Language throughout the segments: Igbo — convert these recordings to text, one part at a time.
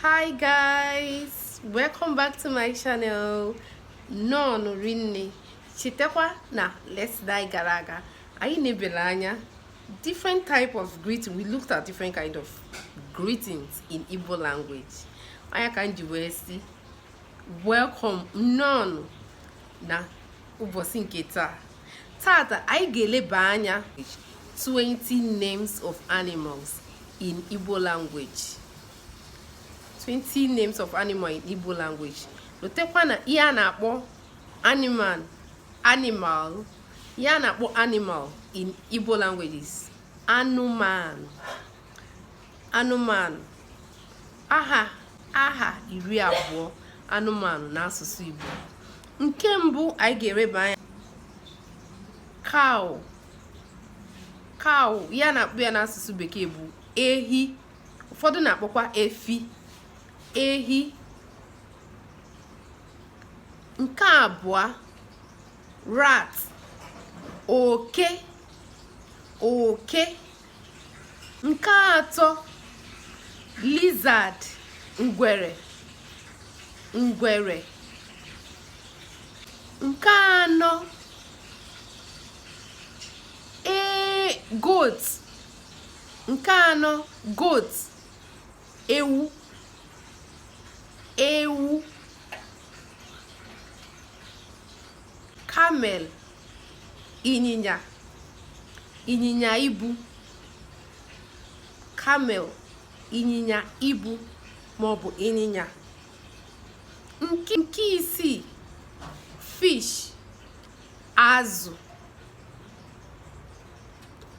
hi guys welcome back to my channel nnọọnụ rinne chetakwa na last time gara aga anyị nebere anya different type of greeting we looked at different kind of greetings in Igbo language ọ nya ka m ji wee sị welcome nnọọnụ na ụbọchị nke taa Taata anyị ga-eleba anya 20 names of animals in Igbo language. 20 names of animal in Igbo language. Lotekwa na ihe a na-akpọ animal animal ihe a na-akpọ animal in Igbo language is anụmanụ. anụmanụ aha aha iri abụọ anụmanụ n'asụsụ Igbo nke mbụ anyị ga-eleba anya cow cow ihe a na-akpọ ya n'asụsụ bekee bụ ehi ụfọdụ na-akpọkwa efi ehi nke abụọ rat oke oke nke atọ lizard ngwere ngwere nke anọ ee goat nke anọ goat ewu ewu camel ịnyịnya ịnyịnya ibu camel ịnyịnya ibu maọbụ ịnyịnya nke isii fish azụ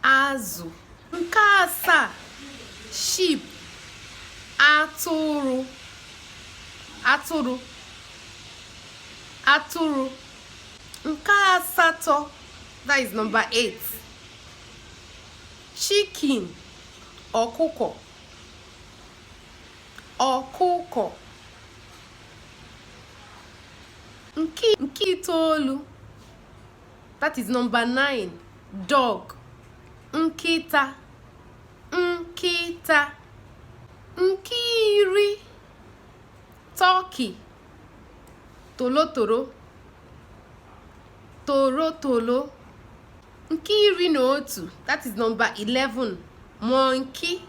azụ nke asaa sheep atụrụ atụrụ atụrụ nke asatọ that is number 8 chicken ọkụkọ ọkụkọ nke nke itoolu that is number 9 dog nkịta nkịta nke iri turkey torotoro torotoro nke iri na otu that is number 11 monkey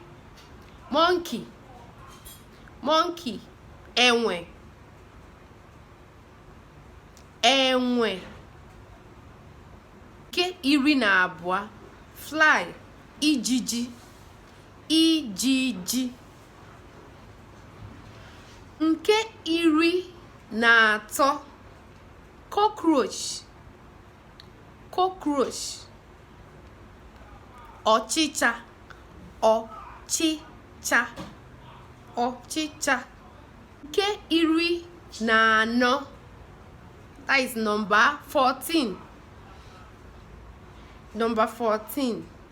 monkey monkey enwe enwe nke iri na abụọ fly ijiji ijiji nke iri na atọ cockroach cockroach ọchịcha ọchịcha ọchịcha nke iri na anọ that is number 14 number 14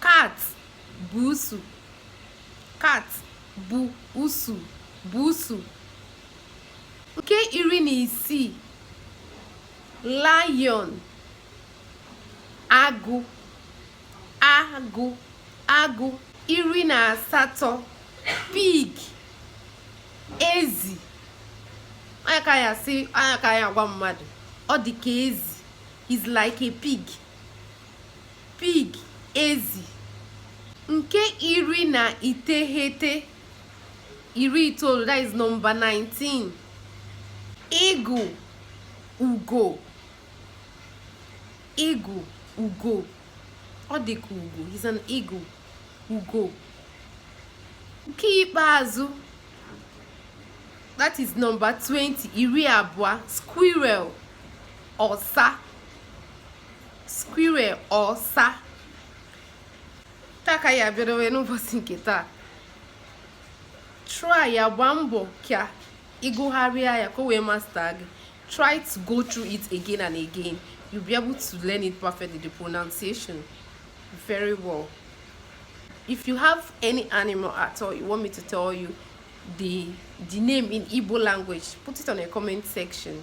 cat buusu cat buusu buusu nke iri na isii lion agụ agụ agụ iri na asatọ pig ezi anya ka ya si anya ka ya agwa mmadụ ọ dị ka ezi is like a pig Pig, ezi. Nke iri na iteghete, iri itoolu, that is number 19. Eagle, ugo. Eagle, ugo. Ọ dị ka ugo, he's an eagle. Ugo. Nke ikpeazụ, that is number 20, iri abụọ, squirrel, ọsa. squirrel ọsa taa ka ya abịadowe n'ụbọchị nke taa try ya gbaa mbọ ka ị gụgharịa ya ka o wee master gị try to go through it again and again you'll be able to learn it perfectly the pronunciation very well if you have any animal at all you want me to tell you the the name in Igbo language put it on a comment section